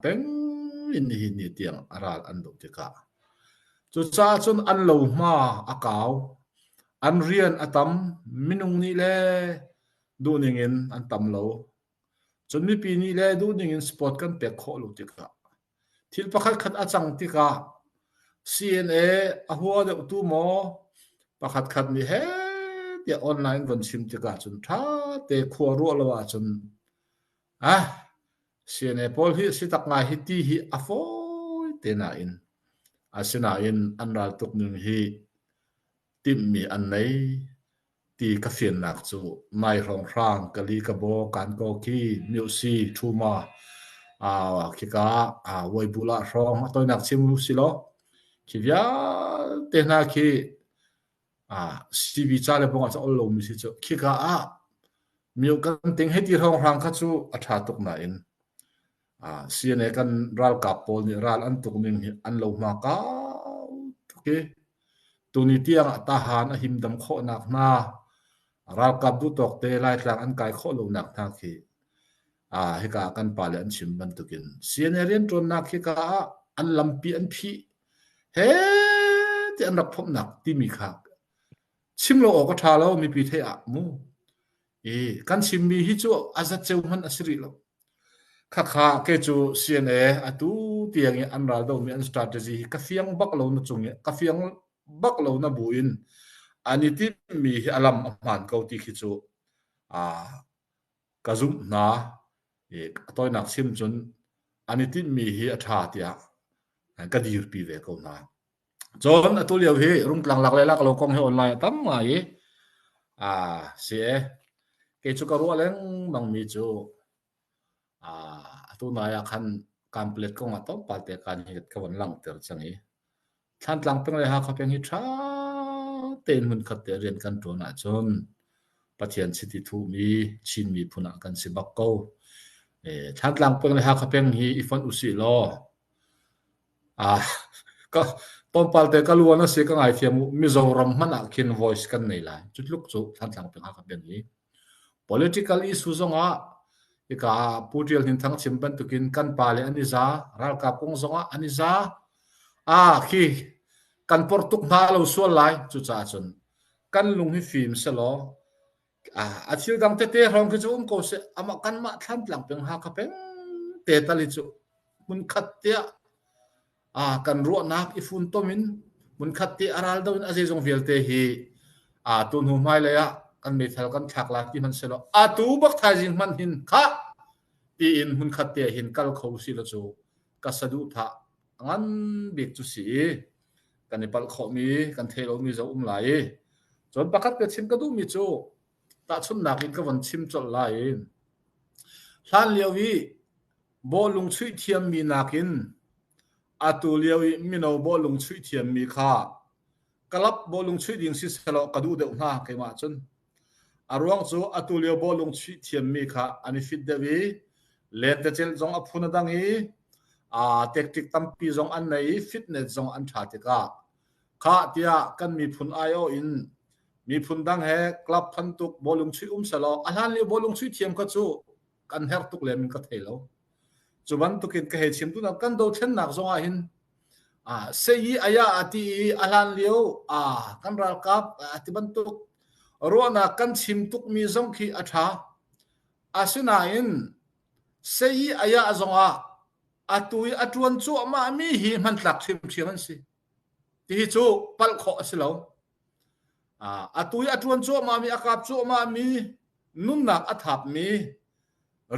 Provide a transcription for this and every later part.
peng in nihin ni tiang a ral an doh tikah cucaah cun an lo hma a kau an rian a tam minung nih le duhning in an tam lo cun mipi nih le duhning in sport kan pek khawh lo tikah thil pakhat khat a cang tikah CNA a hua deuh tu maw pakhat khat nih he tiah online von chim tikah cun tha te khua ruah lo ahcun CNA pawl hi a si tak ngai hi ti hi a fawi te nain asinain an raltuk ning hi timhmi an nei ti ka fiannak cu nai hrawng hrang kali ka baw kan ko khi music thuma khika weibulah ah hrawng a toinak chim u si law khi vialte hna khi CV ca le pawngah caol lomi si cu khika ah mio kan ting hei ti hrawnghrang kha cu a ṭha tuk nain CNA kan ralkap pawl nih ral an tuk ning hi an lo hma kau tuk i tuni tiangah tahan a himdam khawhnak hna ralkap duhtawk te laitlang an kai khawh lonak hna khi hika kan pale an chim bantukin CNA rianṭuannak hika ah an lampi an phih he ti an rak phomhnak timi kha chim lo awk a ṭha lo mipi theih ah mu i kan chimmi hi cu a zat ceu hman a si rih lo khakha ke cu CNA atu tiang i an ral domi an strategy hi ka fiang bak lo na cung i ka fiang bak lo na bu in an i timmi hi a lam a hmaan ko ti khi cu Ka zumh hna i a tawinak chim cun an i tinhmi hi a ṭha tiah ka dirpi ve ko hna. Cun atu lio hi Rungtlang lak le lak lo kong hi online a tam ngai i aa si e kei cu ka ruah lengmangmi cu aa atu nai ah khan kaan palet kong ah tlawmpal te kaan hi ka von langhter cang i Thlantlang peng le Hakha peng hi ṭha tein hmunkhat te rian kan ṭuan ahcun Pathian chiti thuhmi Chin miphun ah kan si bak ko. Thlantlang peng le Hakha peng hi i fonh usih law ah ka tlawmpal te ka luan a si ka ngaithiam u. Mizoram hmanh ah khin voice kan nei lai. Cu tluk cu Thlantlang peng Hakha peng hi. Political issue zongah hika ah Pu Ṭial Hnin Thang chim bantukin kan pa le an i za, ralkap kong zongah an i za. Ah khi kan porh tuk hna lo sual lai. Cucaah cun kan lung hi fim selaw ah a thil dang tete hrawng khi cu um ko seh amah kanmah thlan tlang peng Hakha peng te tal hi cu hmunkhat tiah ah kan ruahnak i funtom in hmunkhat te a ral do in a zeizong vialte hi a tu hnu hmai lei ah kan meithal kan thlak lai ti hman selo a tu bak thaizing hman hin kha ti in hmunkhat te hin kal kho si lo cu ka sadu tha ngan bik cu si kan i palh khawh mi kan thei lo mi zo um lai cun pakhat ka chim ka duh mi cu Tahchunhnak in ka von chim colh lai. Hlanlio i bawhlung chuih thiammi nakin atu lio i mino bawhlung chuih thiammi kha club bawhlung chuih ding si sehlaw ka duh deuh hnga keimah cun. A ruang cu atu lio bawhlung chuih thiammi kha an i fit deuh i lentecelh zong a phun a dang i aa tactic tampi zong an nei i fitness zong an ṭha tikah khah tiah kan miphun aiawh in miphun dang he club phan tuk bawlung chuih um selaw a hlan lio bawlung chuih thiam kha cu kan her tuk le min ka thei lo cu bantukin ka he chim tu kan do thlennak zongah hin a seyi aya ati i a hlan lio a kan ralkap ati bantuk ruahnak kan chim tuk mi zong khi a tha asinain seyi aya zongah atu i atuan cu ama mi hi hman tlak hrim hrim an si ti hi cu palh khawh a si lo Atu i a ṭuan cuahmahmi, a kap cuahmahmi, nunnak a thapmi,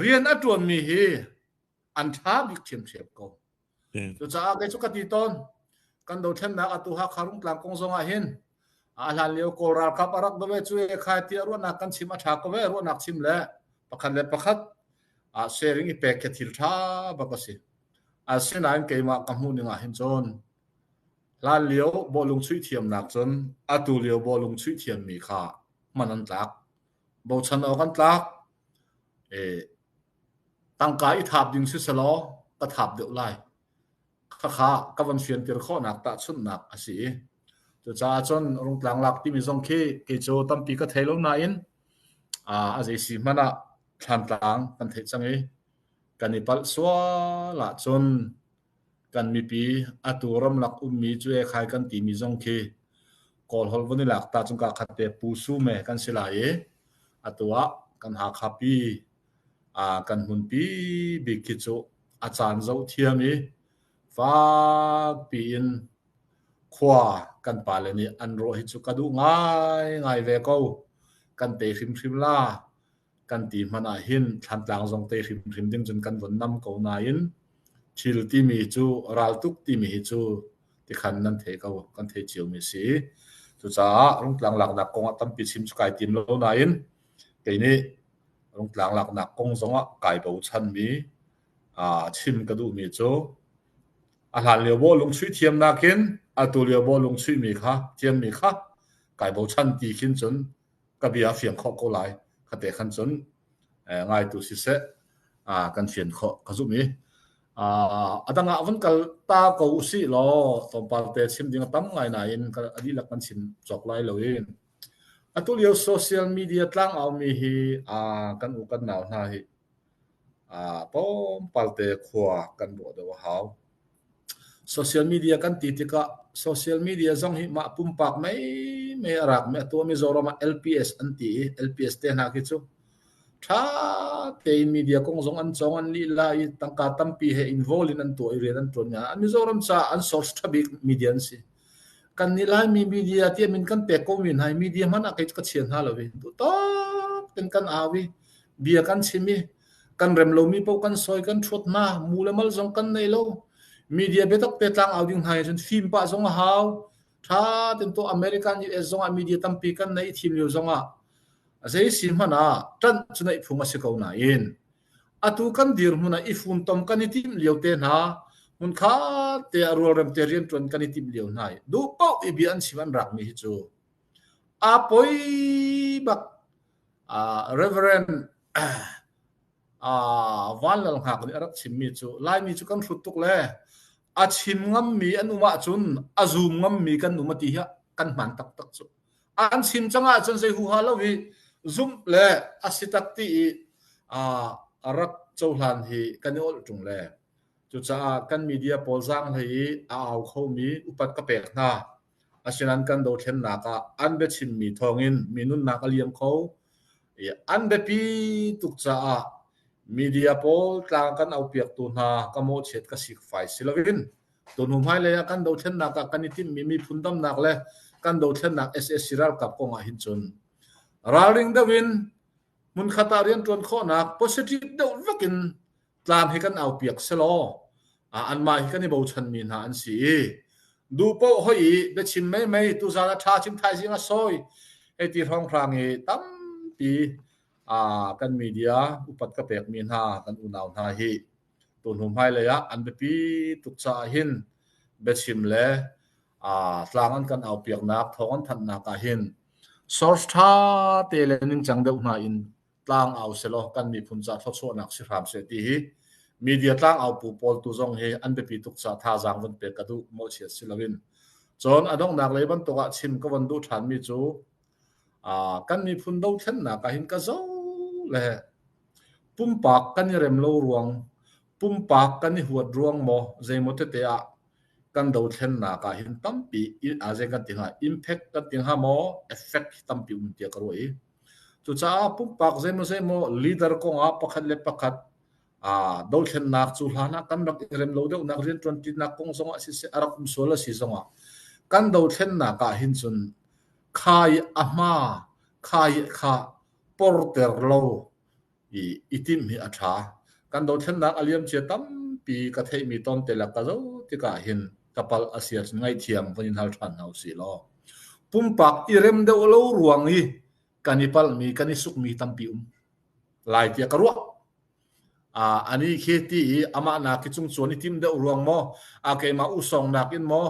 rian a ṭuanmi hi an ṭha bik ṭhiamṭhiam ko. Cucaah kei cu ka ti tawn. Kan dothlennak atu Hakha Rungtlang kong zongah hin a hlanlio Kawl ralkap a rak dove cu e khai tiah ruahnak kan chim a ṭha ko ve ruahnak chim le pakhat le pakhat ah sharing i pek khi thil ṭha bak a si. Asinain keimah ka hmuh ningah hin cun Hlanlio bawhlung chuih thiamnak cun atu lio bawhlung chuih thiammi kha hman an tlak. Bochan awk an tlak. Tangka i thap ding siselaw ka thap deuh lai. Khakha ka van fiantir khawhnak tahchunhnak a si i cucaah cun rungtlang lak timi zong khi kei cu tampi ka thei lo nain a zeisi hmanh ah thlantlang kan theih cang i kan i palh sual ahcun Kan mipi, atu ramlak ummi cuai khai kan timi zong khi Kawlholh von i lak ta cu kaa khat te Pu Su me kan si lai i atu ah kan Hakha pi kan hmunpi bik khi cu a caan zoh thiam i fakpi in khua kan pale nih an rawh hi cu ka duh ngaingai ve ko. Kan tei hrimhrim la. kan ti hmanh ahhin Thlantlang zong te hrimhrim ding cun kan von nam ko nain thil timi cu raltuk timi hi cu tikhan nan thei ko kan thei ciomi si cucaah rungtlang laknak kong ah tampi chim cu kai tim lo nain kei nih rungtlang laknak kong zong ah kai bochanmi aa chim ka duhmi cu a hlan lio bo lungchuih thiam nakin atu lio bo lungchuihmi kha thiammi kha kai bochan ti khin cun ka bia a fiang khawh ko lai ka te khan cun ngaitu siseh kan fian khawh ka zumh i a dang ah van kal ta ko si law tlawmpal te chim ding a tam ngai nain a dihlak kan chim cawk lai lo in atu lio social media tlang aumi hi kan u kan nau hna hi tlawmpalte khua kan ruah deuh a hau. Social media kan ti tikah social media zong hi mah pumpak meimei a rak mi atu Mizoram ah LPS an ti i LPS te hna khi cu tha tein media kong zong an cong an lila i tangka tampi he involve in an tuah i rian an tuan nya an Mizoram caah an source tha bik media an si. kan nih Laimi media tiam in kan pek ko mi hna i media hmanh ah kei cu ka chia hna lo i duhtawk ten kan au i bia kan chim i kan rem lomi paoh kan soi kan ṭhuat hna mu le mal zong kan nei lo media biatak pe tlang au ding hna i cun fim pah zong a hau ṭha ten to American US zong ah media tampi kan nei i thim lio zong ah a zei si hmanh ah ṭanh cu neih phung a si ko nain atu kan dirhmun ah i fumtom kan i timh lio te hna hmun khat te ah rualrem te rian ṭuan kan i timh lio hna i duh paoh i bia an chim an rakmi hi cu a poi bak uh, reverend uh, van lal ngak nih a rak chimmi cu laimi cu kan hrut tuk le a chim ngammi an um ahcun a zum ngammi kan um a ti hi kan hman taktak cu an chim cang ahcun zei huha lo hi zumh le a si tak ti i a rak cohlan hi kan i olh ṭung le cucaah kan media pawl zaang hlei i a au khomi upat ka pek hna asinan kan dothlennak ah an biachimmi thawngin mi nunnak a liam kho i an biapi tuk caah media pawl tlang kan aupiaktu hna ka mawhchiat ka sik fai si loin Tunu hmailei ah kan dothlennak ah kan i timhmi miphun damnak le kan dothlennak sac ralkap kong ah hin cun ralring deuh in hmunkhat ah rian ṭuan khawhnak positive deuh vek in tlang hi kan au piak selaw ah anmah hi kan i bochanmi hna an si i duh poh hoi i biachim mei mei tuzan a ṭha cim thaizing a sawi hei ti hrawng hrang i tampi ah kan media upat ka pekmi hna kan unau hna hi tunu hmailei ah an biapi tuk caah hin biachim le tlang an kan aupiaknak thawng an thanhnak ah hin source tha te le ningcang deuh hna in tlang au selaw kan miphun ca thawchuahnak si hram se ti hi media tlang au pu pawl tu zong hi an biapi tuk ca thazaang van pek ka duh mo chia si loin cun a donghnak lei bantuk ah chim ka van duh than mi cu kan miphun dothlennak ahhin ka zo le pumpak kan i rem lo ruang pumpak kan i huat ruang maw zeimaw tete ah kan dothlennak ah hin tampi azen kan ti hnga impact kan ti hnga maw effect tampi um tia ka ruai cucaah pumpak zeimaw zeimaw leader kong ah pakhat le pakhat a dothlennak cu hlan ah kan rak i rem lo deuh nak rian tuan tinak kong zong ah si se a rak um sual a si zong ah kan dothlennak ah hin cun Kha i a hma, kha hi kha porter lo i i timh hi a ṭha. Kan dothlennak a liamcia tampi ka theihmi tawnte le ka zoh tikah hin ka palh a si ahcun ngaihthiam van in hal ṭhan hna usih law. Pumpak i rem deuh lo ruang i kan i palhmi, kan i sukmi tampi um lai tiah ka ruah. Anih khi ti i amah nak khi cungcuan i tim deuh ruang maw, a keimah uhsawng nakin maw,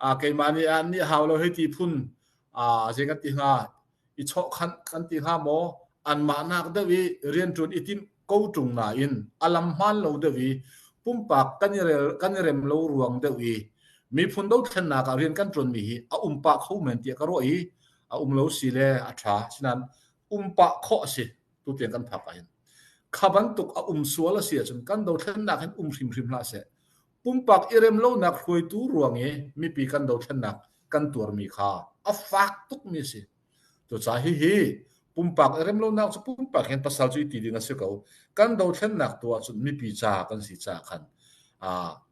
a keimah nih a nih hau lo hei ti phun zei kan ti hnga, i chawhkhanh kan ti hnga maw, anmah nak deuh i rianṭuan i timh ko ṭung nain a lam hmaan lo deuh i pumpak kan i rel kan i rem lo ruang deuh i miphun dothlennak ah rian kan ṭuanmi hi a um pah kho men tiah ka ruah i a um lo si le a ṭha. Asinain um pah khawh a si tu tiang kan phak ahhin kha bantuk a um sual a si ahcun kan dothlennak hin um hrimhrim hlah seh pumpak i rem lonak hruaitu ruang i mipi kan dothlennak kan tuarmi kha a fak tukmi a si to ca hi hi pumpak i rem lonak cu pumpak hin pasal cu ti ding a si ko kan dothlennak tu ahcun mipi ca kan si ca khan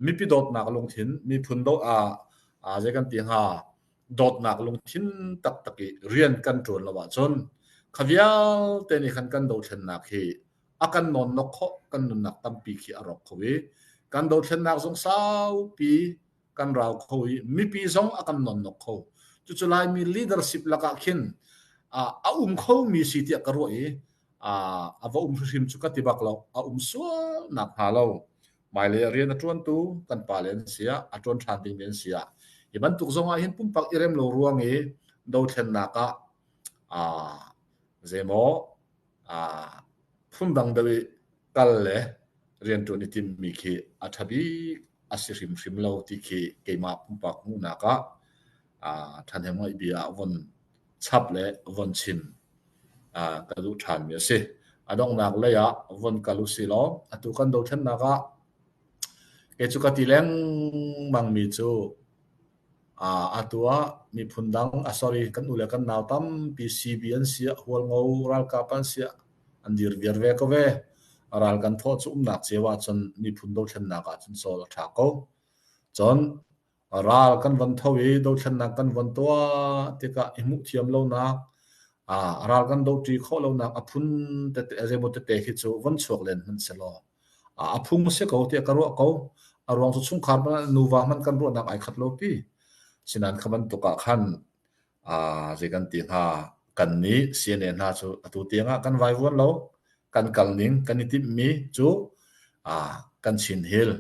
mipi dawtnak lungthin miphun do a zei kan ti hnga dawtnak lungthin taktak i rian kan ṭuan lo ahcun kha vialte nih khan kan dothlennak hi a kan nonnok kho kan nunnak tampi khi a rawk kho i kan dothlennak zong saupi kan rau kho i mipi zong a kan nonnok kho cucu laimi leadership lakah khin a um kho mi si tiah ka ruah i a va um hrim cu ka ti bak lo a um sual nak hnga lo Hmailei ah rian a ṭuantu kan pale an si ah, a ṭuan ṭhan dingmi an si ah, hi bantuk zong ah hin pumpak i rem lo ruang i dothlennak ah aa zeimaw aa phundang deuh i kal le rianṭuan i timmi khi a ṭha bik a si hrimhrim lo ti khi keimah pumpak hmuhnak ah aa ṭhahnemngaih bia ah von chap le von chim ka duh ṭhanmi a si. A donghnak lei ah von kal u si law, atu kan dothlennak ah kei cu ka ti lengmangmi cu atu ah miphun dang, sorry, kan u le kan nau tampi CB an si ah, hualngo ralkap an si ah an dir viar ve ko ve. Ral kan thawh cu umnak cio ahcun miphun dothlennak ahcun sawl a ṭha ko. Cun ral kan von tho i dothlennak kan von tuah tikah i hmuh thiam lonak ral kan doṭi khawh lonak a phun tete zeimaw tete khi cu von chuak len hmanh si law a phung a si ko tiah ka ruah ko a ruang cu chungkhar hmanh nuva hmanh kan ruahnak ai khat lo pi sinan kha bantuk ah khan zei kan ti hna kan nih CNA hna cu atu tiangah kan vai vuan lo kan kal ning kan i timhmi cu kan chin hil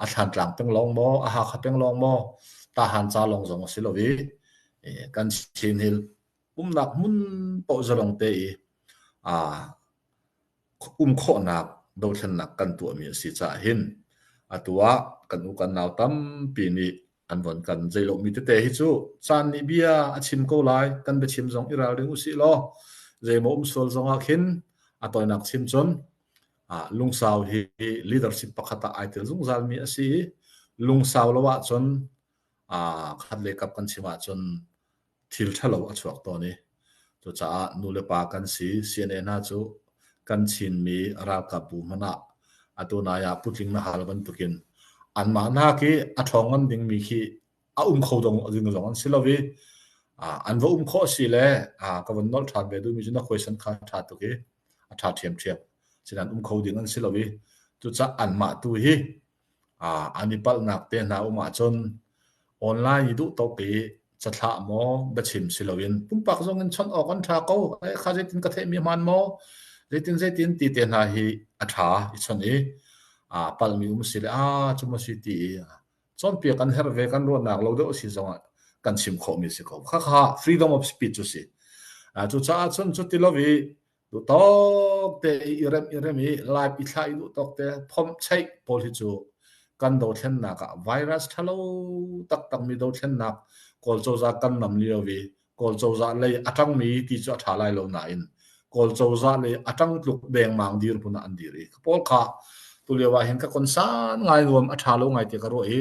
a thlantlang peng lawng maw, a hakha peng lawng maw, tahan ca lawng zong a si lo i kan Chin Hill umnak hmun paoh zalong te i um khawhnak dothlennak kan tuahmi a si caah hin atu ah kan u kan nau tampi nih an von kan zeilawhmi tete hi cu caan nih bia a chim ko lai kan biachim zong i ral ding usih law zeimaw um sual zong ah khin a tawinak chim cun Lungsau hi leadership pakhat ah ai tel zungzalmi a si i lungsau lo ahcun khat le kap kan chim ahcun thil ṭhalo a chuak tawn i cucaah nu le pa kan si CNA hna cu kan Chinmi ralkapbu hmanh ah atu nai ah putling na hal bantukin anmah nak i a ṭhawng ngan dingmi khi a um kho dong a ding zong an si lo i an va um khawh si le ka van nol ṭhan ve duhmi cu na huaisan kha ṭha tuk i a ṭha ṭhiamṭhiam sinan um kho ding an si lo i cucaah anmah tu hi an i palhnak te hna um ahcun online i duh tok i cathlah maw biachim si loin pumpak zong in chawnh awk an ṭha ko kha zeitin ka theihmi hman maw zeitin zeitin ti te hna hi a ṭha i chawnh i palhmi um si le a cu mu si ti i cawnpiak kan herh ve kan ruahnak lo deuh a si zongah kan chim khawhmi si ko. Khakha freedom of speech cu si. Uh, cu caah cun cu ti lo i du tok te i rem i rem i lai pi thla i du tok te phom chei pawl hi cu kan do thlennak ah virus thalo taktak mi do thlennak kawl coza kan nam li lo vi Kawl cozah lei a ṭangmi ti cu a ṭha lai lo nain Kawl cozah lei a ṭang tluk dengmang dirhmun ah an dir i ka pawl kha tulio ah hin ka konsan ngai nuam a ṭha lo ngai tiah ka ruah i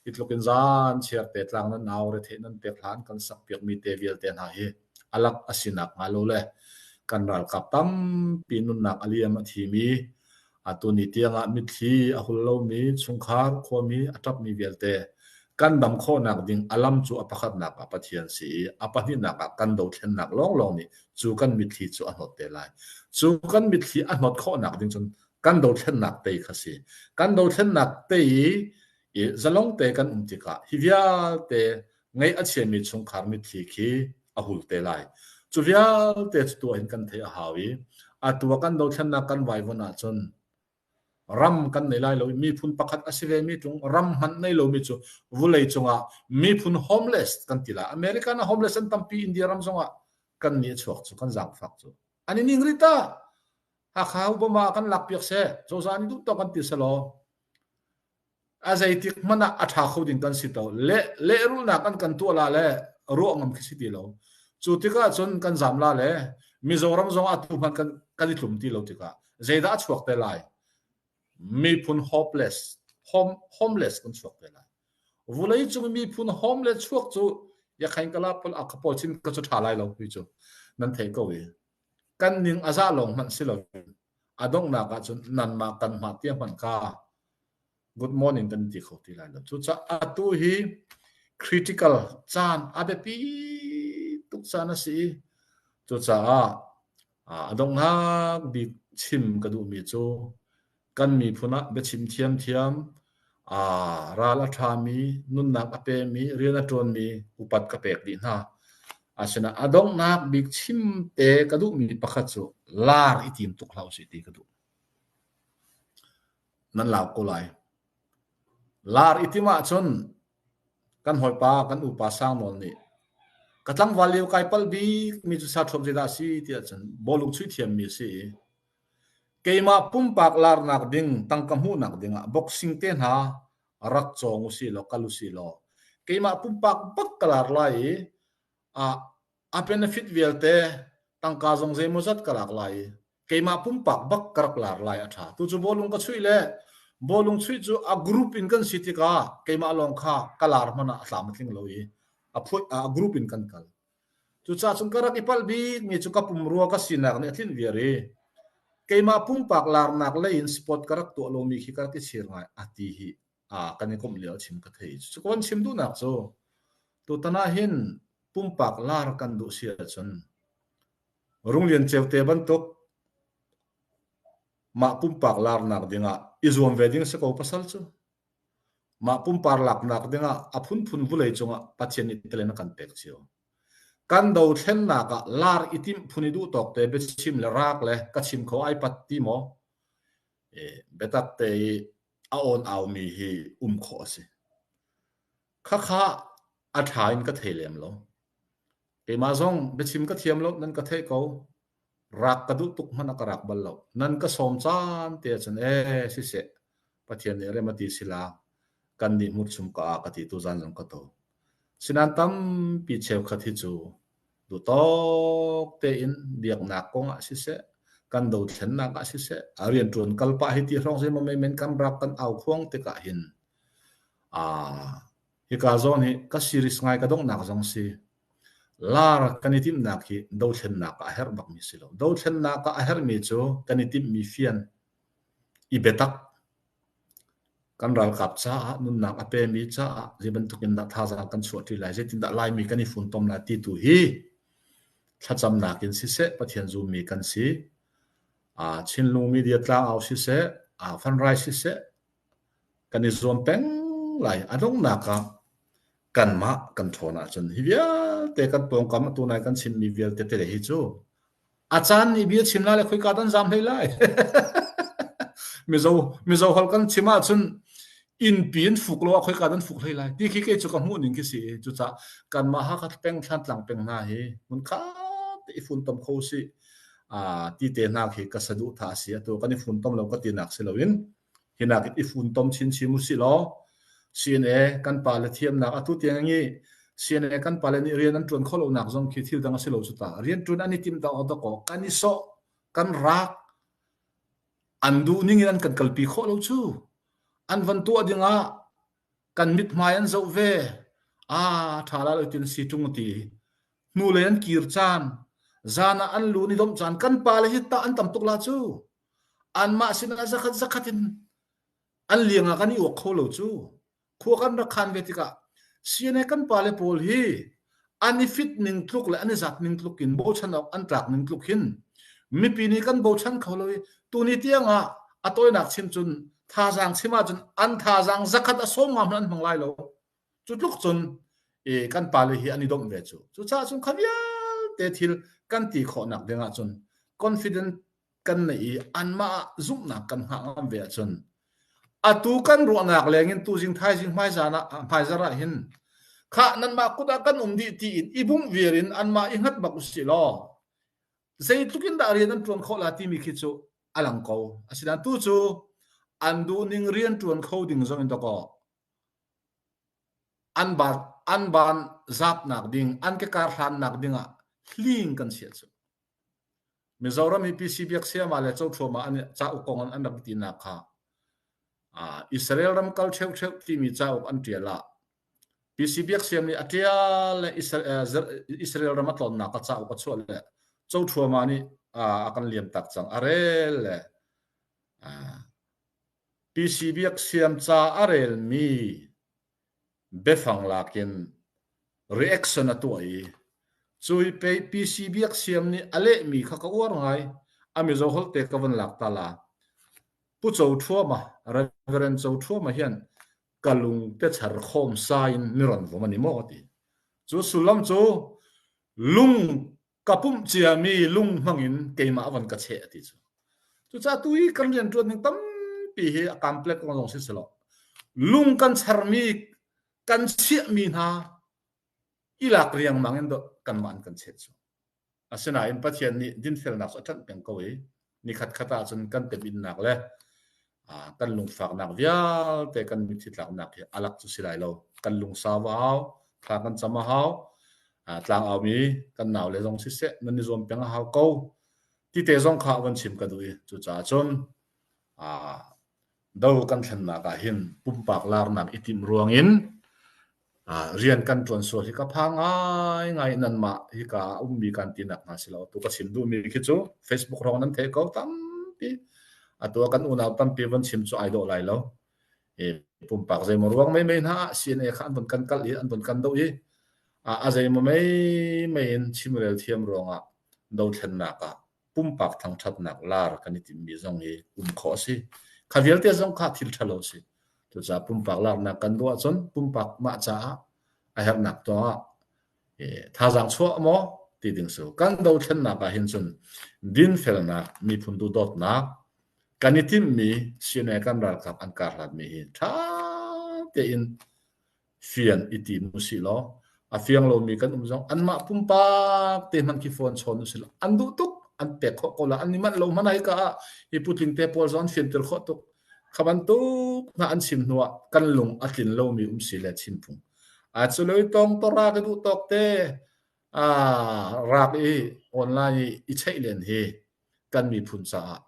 hi tluk in zan chiarte tlang nan nau retheih nan pek hlan kan sak piakmi te vialte hna hi alak a sinak hnga lo le kan ralkap tampi nunnak a liam a thimi Atu ni tiangah mitthli a hul lomi chungkhar khuami a ṭapmi vialte kan dam khawhnak ding a lam cu a pakhatnak ah Pathian si i a pahnihnak ah kan dothlennak lawnglawng nih cu kan mitthli cu a hnawt te lai. Cu kan mitthli a hnawt khawhnak ding cun kan dothlennak tei kha si. Kan dothlennak tei i zalong te kan um tikah hi vialte ngeih a chiami chungkhar mitthli khi a hul te lai. Cu vialte cu tuah in kan theih a hau i atu ah kan dothlennak kan vaivon ahcun ram kan nei lai lo i miphun pakhat a si vemi tlung ram hmanh nei lomi cu vulei cungah miphun homeless kan ti lai American a homeless an tampi India ram zongah kan nih a chuak cu kan zaangfak cu an i ning ri ta Hakha Obama kan lak piak seh cozah nih duh kan ti selaw a zeitik hmanh ah a ṭha kho ding kan si to. Le, lehrulnak kan kan tuah la le ruah ngam khi si ti lo. Cu tikah cun kan zam la le Mizoram zong atu hmanh kan, kan i tlum ti lo tikah zeidah a chuak te lai? Miphun hopeless, hom, homeless kan chuak te lai. Vulei cung miphun homeless chuak cu ya khain kala pol a kapol chin ka cu ṭha lai lo hui cu nan thei ko i kan ning a za lawng hmanh si lo A donghnak ahcun nanmah kan mah tia hmanh kha good morning kan ti kho ti lai lo. Cucaah atu hi critical caan a biapi tuk caan a si i cucaah a donghnak bik chim ka duhmi cu kan miphun ah biachim thiamthiam Ral a ṭhami, nunnak a pemi, rian a ṭuanmi upat ka pek dih hna. Asinain a donghnak bik chimte ka duhmi pakhat cu laar i tim tuk hlah usih ti ka duh. Nan lau ko lai. Laar i tim ahcun kan hawipa, kan upa sang nawn nih ka tlangval lio kai pal bikmi cu sa ṭhuap zeidah a si tiah cun bawlung chuih thiammi a si i Keimah pumpak laarnak ding tangka hmuhnak dingah boxing te hna rak cawng usihlaw kal usihlaw keimah pumpak bak ka laar lai i ah a benefit vialte tangka zong zeimawzat ka laak lai i keimah pumpak bak ka rak laar lai a ṭha. Tucu bawlung ka chuih le bawlung chuih cu a group in kan si tikah keimah lawng kha ka laar hmanh ah a tlam a tling lo i a group in kan kal. Cucaah cun ka rak i palh bikmi cu ka pumrua ka sinak nih a tlinh viar i keimah pumpak laarnak lei in sport ka rak tuah lomi khi ka rak i chir ngai a ti hi a kan i komh lio a chim ka thei. Cucu ka von chim duhnak cu tutan ah hin pumpak laar kan duh si ahcun Runglian Ceu te bantuk mah pumpak laarnak ding ah i zuam ve ding a si ko pasal cu. Mah pumpak laknak dingah a phunphun vulei cungah Pathian nih tilen a kan pek cio. Kan dothlennak ah lar i timh phun i duhtawk te biachim le raak le ka chim kho ai pat ti maw? E, biatak te i a awn aumi hi um khawh a si. Khakha a ṭha in ka thei lem lo. Keimah zong biachim ka thiam lo, nan ka theih ko. Rak ka duh tuk hmanh a ka rak bal lo. Nan ka sawm caan te ah cun ee siseh, Pathian nih rem a ti sila kan nih hmurchum ka a ka ti tu zan zong ka to. Sinan tampi cheukhat hi cu duhtawk tein biaknak kong ah siseh, kan dothlennak ah siseh, a rianṭuan kalpah hi ti hrawng zei ma mei men kan rak kan au khuang tikah hin Hika zawn hi ka series ngai ka donghnak zong si, lar kan i timhnak hi dothlennak ah a herh bakmi si lo. Dothlennak ah a herhmi cu kan i timhmi fian, i biatak, kan ralkap caah, nunnak a pemi caah zeibantuk in dah thazaang kan chuahṭi lai, zeitindah Laimi kan i funtom lai ti tu hi thlacamnak in siseh, Pathian zummi kan si. Chinlung media tlang au siseh, fundraise siseh, kan i zuam peng lai. A donghnak ah kanmah kan ṭhawn ahcun hi vialte kan pawngkam atu nai kan chimmi vialte te hi cu a caan nih bia chim lai le khoika dan zaam hlei lai. mizo mizo hol kan chim ahcun innpi in fuk lo ah khoika dan fuk hlei lai ti khi kei cu ka hmuh ning khi si cucah kanmah ha ka peng thlan tlang peng hna hi mun kha te i fun tom kho si a ti te hna khi ka saduh tha si atu kan i fun tom lo ka ti nak si loin Hinak in i funtom chinchin usilaw CNA kan pale thiamnak atu tiang i CNA kan pale nih rian an ṭuan khawh lonak zong khi thil dang a si lo cu ta. Rian ṭuan an i tim dawk dawk awk kan i sawh, kan raak, an duhning in an kan kalpi khawh lo cu. An van tuah dingah kan mithmai an zoh ve. Ah, ṭha la lo tin si ṭung ti. Hnulei an kir caan, zan ah an lu ni domh caan, kan pale hi tah an tam tuk la cu. anmah sinah zakhat zakhat in an liang ah kan i uak kho lo cu khua kan rak khan ve tikah CNA kan pale pawl hi an i fit ning tluk le an i zat ning tluk in bochan awk an tlak ning tluk hin mipi nih kan bochan kho lo i tuni tiang ah a tawinak chim cun thazaang chim ahcun an thazaang zakhat a sawm ngam hmanh an hmang lai lo Cu tluk cun kan pale hi an i domh ve cu. Cucaah cun kha vialte thil kan ti khawhnak ding ahcun confident kan neih i anmah ah zumhnak kan hngak ngam ve ahcun atu kan ruahnak lengin tuzing thaizing hmaizan ah hmaizarh ah hin khah nanmah kut ah kan um dih tiin i bungh viar in anmah i hngat bak usih law zeitluk in dah rian an ṭuan khawh la timi khi cu a lang ko. Asinain tu cu an duhning rian ṭuan kho ding zong in dawkaw An van zapnak ding, an kekar hlannak dingah hling kan si ahcun Mizoram hi PC biaksia le cothuama cauk kong an rak tinak kha Israel ram kal ṭheuṭheu timi cauk an ṭial ah PC biaksia nih a ṭial le Israel ram a tlawnnak cauk a chuah le cothuama nih a kan liamtak cang. A rel le PC biakhiam ca a relmi biafang lakin reaction a tuah i cui pei PC biakhiam nih a lehmi kha ka uar ngai. A Mizo holte ka van lak ta la. Pu Cho Thuama, Reverend Cho Thuama hian ka lung te char khawm sa in mi ran vom ani maw ka ti. Cu sullam cu lung ka pumh ciami lung hmang in keimah van ka cheh a ti cu. Cucaah tu i kan rianṭuan ning tampi hi a complex ko zong si selaw lung kan charmi kan chiahmi hna i lak riangmang in do kanmah an kan chet cu. Asinain Pathian nih dinfelnak cu a ṭanh peng ko i Nikhatkhat ahcun kan temhinnak le kan lungfaknak vialte kan mitthi tlaknak hi alak cu si lai lo. Kan lungsau a hau, thla kan cam a hau, tlangaumi kan nau le zong siseh nan i zuam peng a hau ko. Ti te zong kha van chim ka duh i cucaah cun do kan thlennak ah hin pumpak laarnak i timh ruangin rian kan ṭuan sual hi ka pha ngaingai in nanmah hika ah a ummi kan tinak hna si lo tu ka chim duhmi khi cu Facebook hrawng nan theih ko tampi atu ah kan unau tampi van chim cu ai dawh lai lo e, pumpak zeimaw ruang mai mai hna CNA kha an von kan kal i an von kan doh i a zeimaw mai mai in chimrel thiam ruangah dothlennak ah pumpak thangthatnak lar kan i timmi zong hi um khawh a si. Kha vialte zong kha thil thalo a si. Cucaah pumpak larnak kan ruah cun pumpak mah caah a herhnak tuah thazaang chuah maw ti ding su. Kan dothlennak ah hin cun dinfelnak, miphun duhdawtnak, kan i timmi CNA kan ralkap an kar hlatmi hi tha tein fian i tim usih law a fiang lomi kan um zong anmah pumpak te hman khi phone chawn usih law an duh tuk an pek khawh ko la an ni manh lo hman hai ka ah hi putling te pawl zon fianter khawh tuk kha bantuk na an sim hnu ah kan lung a tlin lomi um si le chin phung a chuloi tong to ra ka duh tok te a rak i online i i cheih len hi kan miphun caah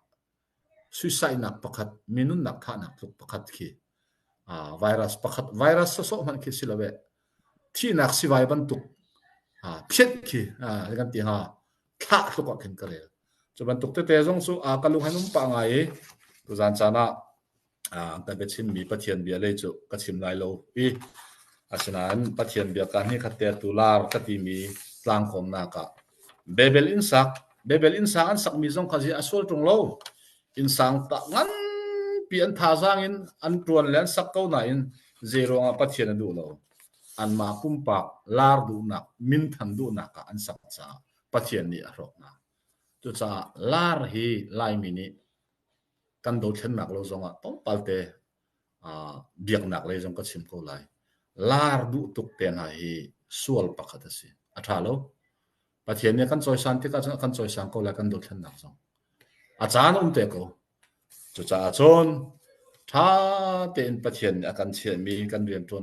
suisaihnak pakhat, mi nunnak thahnak tluk pakhat khi virus pakhat, virus sawsawh hmanh khi si lo eh, thihnak sivai bantuk phiat khi kan ti hnga, thlah tluk ah khin ka rel. Cu bantuk tete zong cu ka lung han um pah ngai i, tuzan caan ah an kan biachimmi Pathian bia lei cu ka chim lai lo i asinain Pathian bia ka ni khat te tu lar ka timi tlangkhawmnak ah Babel inn sak Babel inn sang an sakmi zong kha zi a sual ṭung lo inn sang ta nganpi an thazaang in an ṭuan le an sak ko nain zeiruangah Pathian a duh lo anmah pumpak lar duhnak minthan duhnak ah an sak caah Pathian nih a hrawknak cucaah lar hi Laimi nih kan dothlennak lo zongah tlawmpalte uh, biaknak lei zong ka chim ko lai. Lar duh tuk te hna hi sual pakhat a si. A tha lo. Pathian nih kan cawisan tikah cun kan cawisan ko lai kan dothlennak zong. A caan um te ko. Cucaah cun tha tein Pathian nih a kan chiahmi kan riantuan